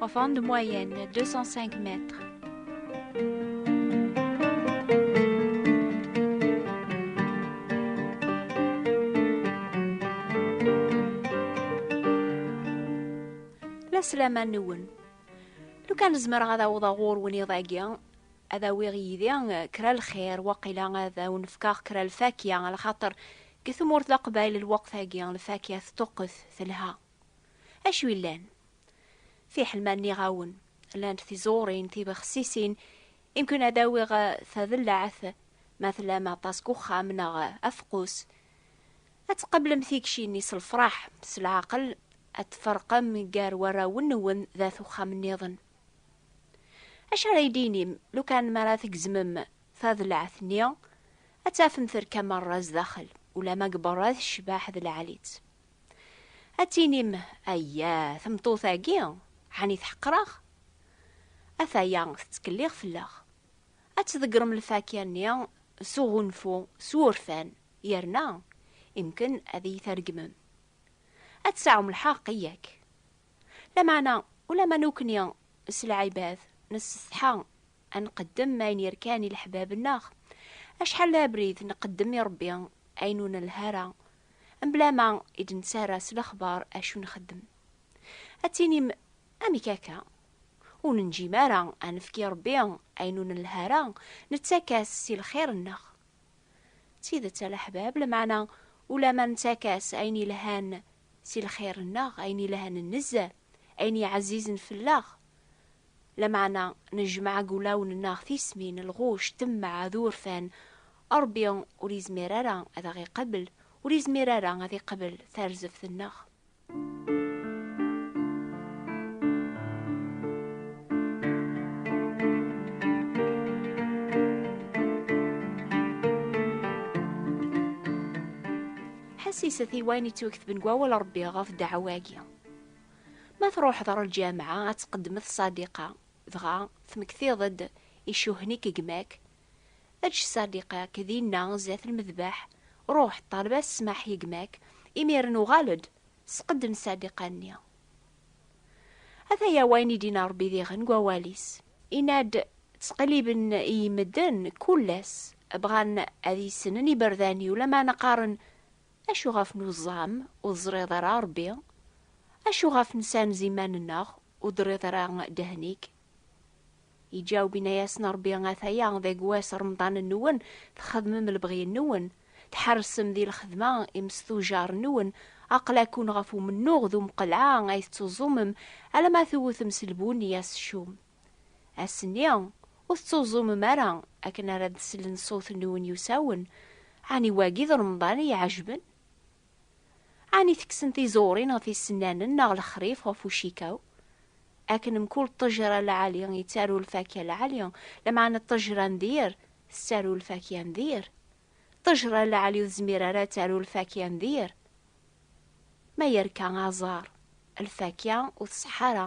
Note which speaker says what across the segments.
Speaker 1: Enfant de moyenne, 205 mètres. La slama nwen. Lu kan zemreɣ ad awḍeɣ ɣur-wen iḍ-agi, ad awiɣ yid-i eh, kra lxir, waqila ad awen-fkeɣ kra lfakya, ala xaṭer deg tmurt Leqbayel lweqt-agi lfakya teṭṭuqqet telha. Acu yellan? Fiḥel ma nniɣ-awen, llant tiẓurin tibexsisin i mken ad awiɣ tadellaɛt ma tlam aṭas deg uxxam neɣ afeqqus, ad tqablem tikci-nni s lefraḥ, s leɛqel ad tferqem gar warraw-nwen d at uxxam-nniḍen. Acu ara yi-d-tinim lukan mi ara tgezmem tadellaɛt-nni, ad tafem terka merra zdaxel, ulamma deg berra tecbeḥ d lɛali-tt. Ad tinim, Ayya, tameṭṭut-agi, ɛni tḥeqqer-aɣ? Ataya, tettkellix fell-aɣ. Ad tḍeggrem lfakya-nni s uɣunfu, s wurfan, yerna imken ad iyi-tregmem. Ad tseɛɛum lḥeqq, yak? Lameɛna, ulamma nukni s lɛibad, nessetḥa a nqeddem ayen yerkan i leḥbab-nneɣ, acḥal d abrid nqeddem i Ṛebbi ayen ur nelha ara, mebla ma i d-nettarra s lexbar acu nxeddem. Ad tinim, Amek akka? Ur nenǧim ara a nefk i Ṛebbi ayen ur nelha ara, nettak-as si lxir-nneɣ. D tidet a leḥbab, lameɛna ulamma nettak-as ayen yelhan si lxir-nneɣ, ayen yelhan nezzeh, ayen yeɛzizen fell-aɣ, Lameɛna nejmeɛ deg wulawen-nneɣ tismin, lɣuc, temmeɛ, d urfan, Ṛebbi ur yezmir ara ad aɣ-iqabel, ur yezmir ara ad iqbel tarzeft-nneɣ. Ḥesset i wayen yettwaktben deg Wawal n Ṛebbi ɣef ddeɛwa-agi. Ma truḥeḍ ɣer lǧameɛ ad tqeddmeḍ ṣadiqa, dɣa tmektiḍ-d icuhen-ik gma-k, eǧǧ ṣadiqa-k dinna zdat lmedbeḥ, ruḥ ṭṭaleb-as ssmaḥ i gma-k, imiren uɣal-d, sqedden ṣadiqa-nni. Ataya wayen i d-inna Ṛebbi diɣen deg wawal-is. Inna-d, Ttqelliben iyi medden kul ass, bɣan ad iyi-ssnen iberdan-iw, lameɛna qqaren, Acu ɣef nuẓam ur ẓriḍ ara Rebbi? Acu ɣef nsanz iman-nneɣ ur d-rriḍ ara ddehn-ik? Iǧaweb inna-yasen Rebbi ataya deg wass remḍan-nwen txedmem lebɣi-nwen, tḥersem di lxedma imesṭujar-nwen, aql-akun ɣef umennuɣ d umqelɛa ay tettuẓumem alamma tewtem s lbunni aseččum. Ass-nni, ur tettuẓumem ara akken ara d-slen ṣṣut-nwen yusawen, ɛni wagi d Remḍan i iɛejben? Ɛni tekksen tiẓurin ɣef isennanen neɣ lexrif ɣef ucikaw? Akken mkul ṭṭejra lɛali yettaru lfakya lɛali, lameɛna ṭṭejra n dir tettaru lfakya n dir. Ṭṭejra lɛali ur tezmir ara ad taru lfakya n dir. Ma yerka aẓar, lfakya ur tṣeḥḥa ara.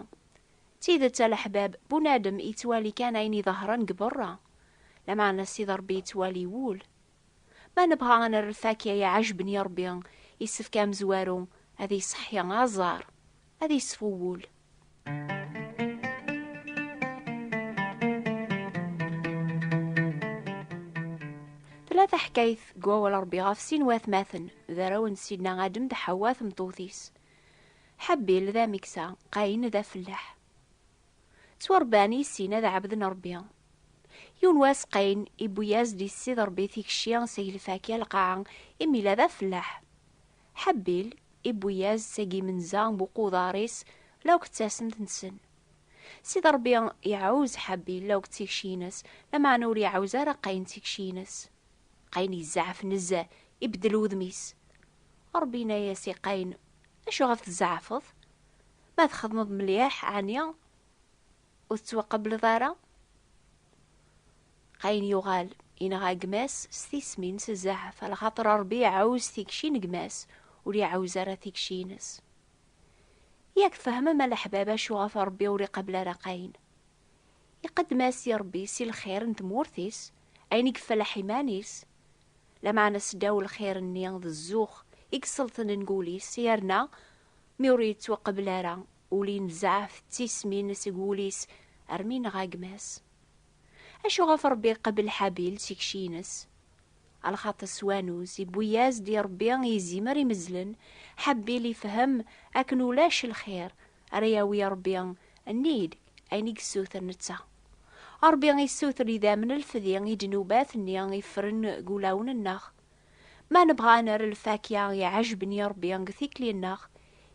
Speaker 1: D tidet a leḥbab, bunadem yettwali kan ayen iḍehṛen deg beṛṛa, lameɛna Sidi Ṛebbi yettwali wul. Ma nebɣa ad nerr lfakya iɛejben i Ṛebbi, yessefk amezwaru ad iṣeḥḥi aẓar, ad iṣfu wul. Tella taḥkayt deg Wawal n Ṛebbi ɣef sin n watmaten, d arraw n Sidna Adem d Ḥawwa tmeṭṭut-is. Ḥabil d ameksa, Qayin d afellaḥ. Ttwarebban i sin ad ɛebden Rebbi. Yiwen wass Qayin iwwi-yas-d i Ssid Rebbi tikci seg lfakya lqaɛa imi yella d afellaḥ. Ḥabil iwwi-yas-d seg yimenza n uquḍar-is la akk d tasent-nsen. Ssid Rebbi iɛawez Ḥabil la akk d tikci-ines, lameɛna ur iɛawez ara Qayin tikci-ines. Qayen yezɛef nezzeh, ibeddel wudem-is. Ṛebbi yenna-yas i Qayen, Acu ɣef tzeɛfeḍ? Ma txedmeḍ mliḥ, ɛni ur tettwaqableḍ ara? Qayen yuɣal yenɣa gma-s s tismi-ines zɛef, lxaṭer Ṛebbi iɛawez tikci n gma-s, ur iɛawez ara tikci-ines. Yak tfehmem a leḥbab acu ɣef Ṛebbi ur iqabel ara Qayen? Iqeddem-as i Ṛebbi si lxir n tmurt-is ayen i yeflaḥ iman-is, lameɛna seddaw lxir-nni d zzux i yesselṭnen deg wul-is, yerna mi ur yettwaqbel ara, ul inzeɛ tettismin seg wul-is armi yenɣa gma-s. Acu ɣef Ṛebbi iqebbel Ḥabil s ikci-ines? A lxaṭi s wanuz, iwwi-yas-d i Ṛebbi izimer imezzlen, Ḥabil ifhem akken ulac lxir ara yawi Ṛebbi nnig ayen i yessuter netta. Ṛebbi yessuter idammen lfdi i ddnubat-nni i ffren deg wulawen-nneɣ. Ma nebɣa ad nerr lfakya iɛejben i Ṛebbi deg tikli-nneɣ,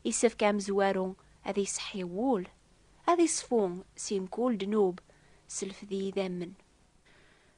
Speaker 1: yessefk amezwaru ad iseḥḥi wul, ad iṣfu si mkul ddnub s lfdi idammen.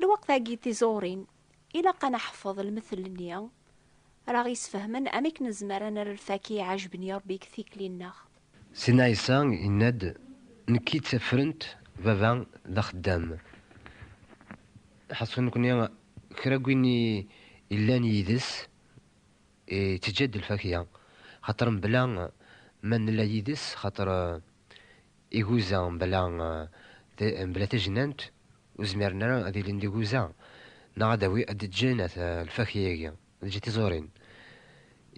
Speaker 1: Lweqt-agi tiẓurin ilaq a neḥfeḍ lmethl-nni ara aɣ-yesfehmen amek nezmer a nerr lfak i yiɛejben n Ṛebbi deg tikli-nneɣ. Sidna Ɛisa
Speaker 2: yenna-d, Nekki d tafrent, Baba d axeddam. Ḥaṣu nekni kra n win yellan yid-s. Teǧǧa-d lfakya, xaṭer mebla ma nella yid-s, xaṭer iguza mebla tajnant ur zmiren ara ad ilin d iguza, neɣ ad d-ǧǧen at lfakya-agi, ad d-ǧǧen tiẓurin.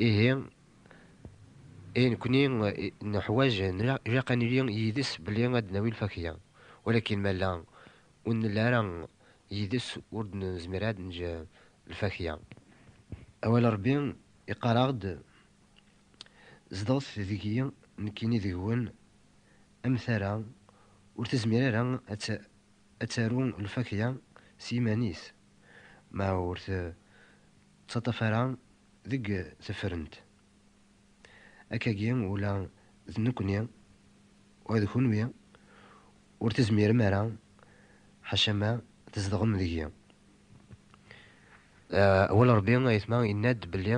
Speaker 2: Ihi, i nekni nuḥwaǧ, ilaq ad nili yid-s belli ad d-nawi lfakya. Walakin ma ur nella ara yid-s ur d-nezmir ara ad neǧǧ Lfatiḥa. Awal n Ṛebbi iqqar-aɣ-d, Zedɣet deg-i, nekkini deg-wen, am tara ur tezmir ara ad taru lfatiḥa s yiman-is, ma ur tettaṭṭaf ara deg tefrent. Akkagi ula d nekkni, ula d kenwi, ur tezmirem ara, ḥaca ma tzedɣem deg-i. Awal Rebbi, ayetma, yenna-d belli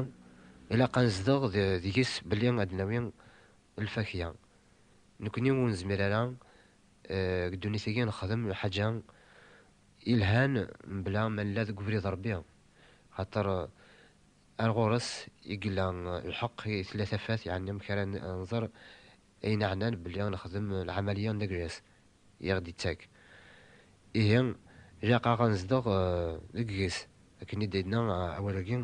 Speaker 2: ilaq ad nezdeɣ deg-s belli ad d-nawi lfakya. Nekni ur nezmir ara deg ddunit-agi ad nexdem lḥaǧa ilhan mebla ma nella deg ubrid Rebbi, axaṭer ar ɣur-s i yella lḥeqq, i tella tafat, yeɛni amek ara nẓer Ayen iɛnan belli nexdem lɛamaliya n legress i aɣ-d-ittak, ihi ilaq-aɣ ad nezdeɣ deg-s, akken i d-yenna awal-agi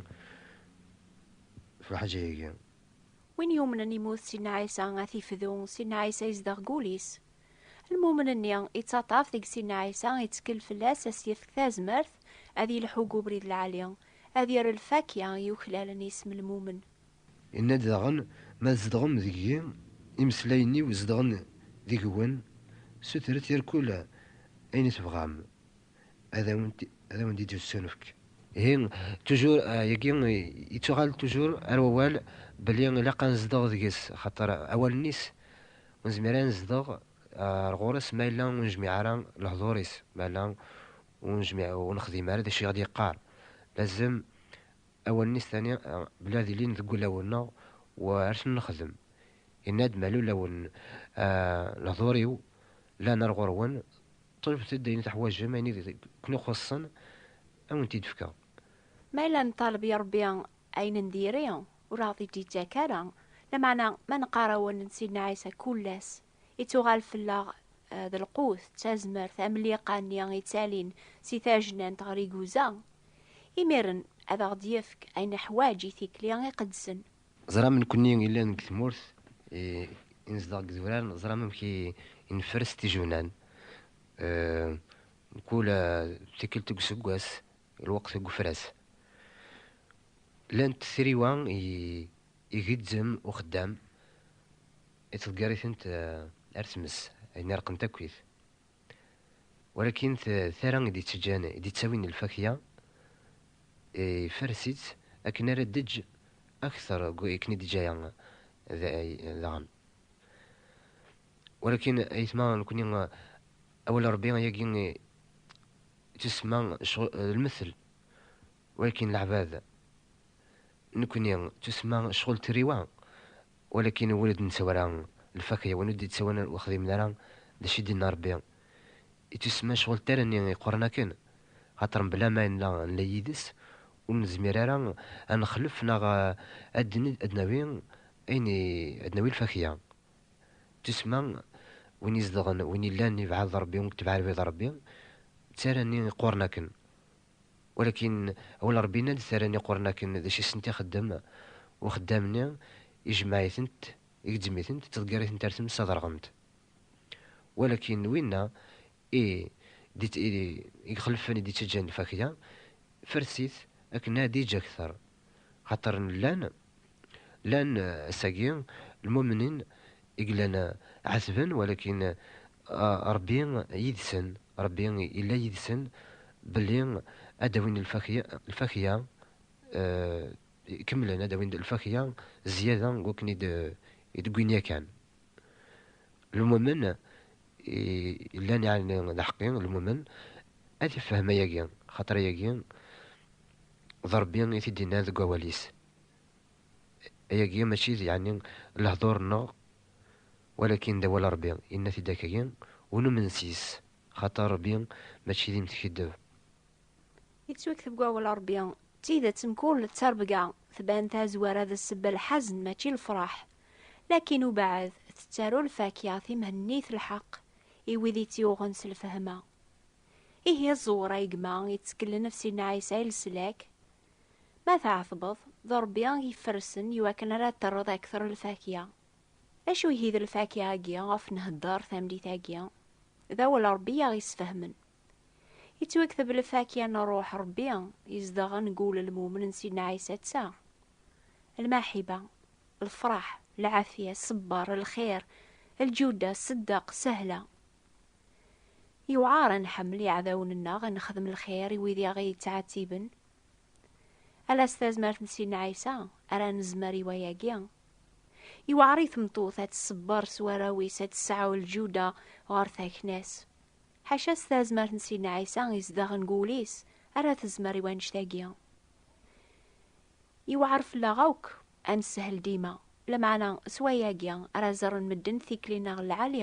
Speaker 2: f lḥaǧa-agi. Win yumnen
Speaker 1: imut Sidna Ɛisa ad t-ifdu, Sidna Ɛisa izdeɣ deg wul-is. Lmumen-nni ittaṭṭaf deg Sidna Ɛisa, ittkel fell-as ad s-yefk tazmert ad yelḥu deg ubrid lɛali, ad yerr lfakya i yuklalen i yisem lmumen. Yenna-d
Speaker 2: daɣen, Ma tzedɣem deg-i, imeslayen-iw zedɣen deg-wen, sutret irkul ayen i tebɣam, ad awen-d-id-yessunefk. Ihi, tujur, yagi yettuɣal tujur ar wawal belli ilaq ad nezdeɣ deg-s, axaṭer awalen-is ur nezmir ara ad nezdeɣ ar ɣur-s ma yella ur nejmiɛ ara lehdur-is, ma yella ur nejmiɛ, ur nexdim ara d acu i ɣ-d-yeqqar. Lazem Awalen-is tani belli ad ilin deg wulawen-nneɣ u ar ten-nexdem. Yenna-d, Ma lulawen lehdur-iw llan ar ɣur-wen, ṭalbet-d ayen i teḥwaǧem, ayen i ken-ixuṣṣen ad wen-t-id-fkeɣ. Ma yella
Speaker 1: neṭṭaleb i Ṛebbi ayen n diri, ur aɣ-t-id-yettak ara. Lameɛna ma neqqar-awen, Sidna Ɛisa kul ass i tuɣal fell-aɣ d lqut d tazmert am liqa-nni ittalin si tajnant ɣer iguza, imiren ad aɣ-d-yefk ayen neḥwaǧ i tikli iqedsen. Ẓram nekkni
Speaker 2: yellan deg tmurt i nezdeɣ deg idurar, ẓram amek i nferres tijunan, mkul tikkelt deg useggas, lweqt deg ufras. Llant triwa i Igezzem uxeddam, ittḍeggar-itent ar tmes, ayen ireqqen takit. Walakin d tara i d-ittaǧǧan, i d-ittawin lfakya, ifares-itt akken ara d-teǧǧ akter n wakken i d-teǧǧa aya daɣen. Walakin ayetma nekni, awal n Rebbi ayagi ittusemma d lmettel, walakin leɛbad Nekni tussma cɣel turiwa, walakin ur d-nettawara lfakya, win ur d-yettawanen ur xdimen ara d acu i d-yenna Rebbi. I tussma cɣel tarni yeqqren akken, xaṭer mebla ma nella nella yid-s, ur nezmir ara ad nexlef neɣ ad d-nawi ayen i ad d-nawi lfakya. Tussma, win izedɣen, win yellan yebɛed d Rebbi, win itbeɛ lbid n Rebbi, d tarni yeqqren akken. Walakin, awal Ṛebbi yenna-d, Tara n iqurren akken d acu i sent ixeddem uxeddam-nni, ijemmeɛ-itent, igezzem-itent, ittḍeggir-itent ar tmes ad ṛɣent. Walakin, winna i d-ixelfen, i d-ittaǧǧan lfakya, fers-it akken ad iǧǧ akteṛ Xaṭer llan, llan ass-agi lmumnin i yellan ɛetben, walakin Ṛebbi yid-sen, Ṛebbi yella yid-sen belli ad d-awin lfakya, kemmlen ad d-awin lfakya zyada n wakken i d-wwin yakan. Lmumen yellan yeɛni d aḥeqqi, lmumen ad ifhem ayagi, xaṭer ayagi D Ṛebbi i t-id-innan deg wawal-is. Ayagi mačči d yeɛni lehdur-nneɣ, walakin d awal Ṛebbi, yenna-t-id akkagi, ur numen sys, xaṭer Ṛebbi mačči d imtkeddeb.
Speaker 1: Yettwakteb deg wawal Ṛebbi, d tidet mkul d taṛebga tban tazwara d ssebba lḥazen mačči lefṛaḥ, lakin ubeɛd tettaru lfakya timhennit lḥeqq i wid i tt-yuɣen s lfehma. Ihi ẓewwer ay gma yetteklen ɣef Sidna Ɛisa i leslak. Ma tɛetbeḍ, d Rebbi i k-iferrsen iwakken ara terreḍ akter lfakya. D acu ihi d lfakya-agi ɣef nhedder tamlit-agi? D awal n Rebbi i aɣ-yesfehmen. Yettwakteb lfakya n Ṛṛuḥ n Ṛebbi izedɣen deg wul n lmumen n Sidna Ɛisa d ta, Lmaḥiba, lefṛaḥ, lɛafya, ṣṣebber, lxir, lǧuda, ṣṣeddaq, sahla, Yewɛer ad nḥemmel iɛdawen-nneɣ, ad nexdem lxir i wid i aɣ-yettɛettiben. Ala s tazmert n Sidna Ɛisa ara nezmer i wayagi. Yewɛer i tmeṭṭut ad tṣebber s warraw-is, ad tesɛu lǧuda ɣer takna-s. Ḥaca s tazmert n Sidna Ɛisa izedɣen deg wul-is ara tezmer i wannect-agi. Yewɛer fell-aɣ akk ad nessehel dima, lameɛna s wayagi ara ẓren medden tikli-nneɣ n lɛali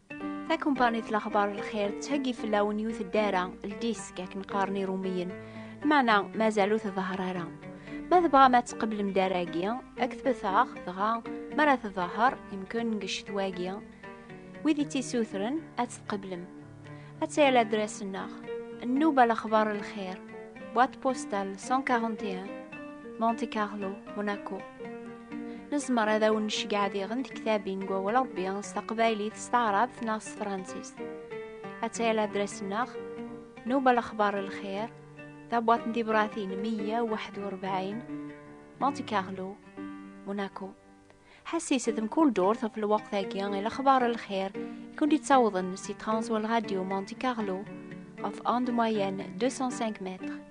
Speaker 1: Takumpanit Laxbar Lxir tettheggi fell-awen yiwet n ddara, ldisk akken qqaren irumiyen, meɛna mazal ur tḍahar ara. Ma tebɣam ad tqeblem ddara-agi, ad k-tbet-aɣ, dɣa mi ara tḍahar, yemken deg ccetwa-agi, wid i tt-isutren ad tt-tqeblem. Ad tayal adras-nneɣ, Nnuba Laxbar Lxir, boîte postale 141, Monte Carlo, Monaco. Nezmer ad awen necgeɛ diɣen tektabin n wawal Rebbi s taqbaylit, s taɛrabt neɣ s tefransist. Ad tayal adres-nneɣ, Newba Lexbar Lxir, tabwaḍt n tibratin 141, Monte Carlo, Monaco. Ḥessis d mkul durt ɣef lweqt-agi i Lexbar Lxir i kent-id-ttawḍen si Transwal Radio Monte Carlo ɣef onde moyenne 205 mètres.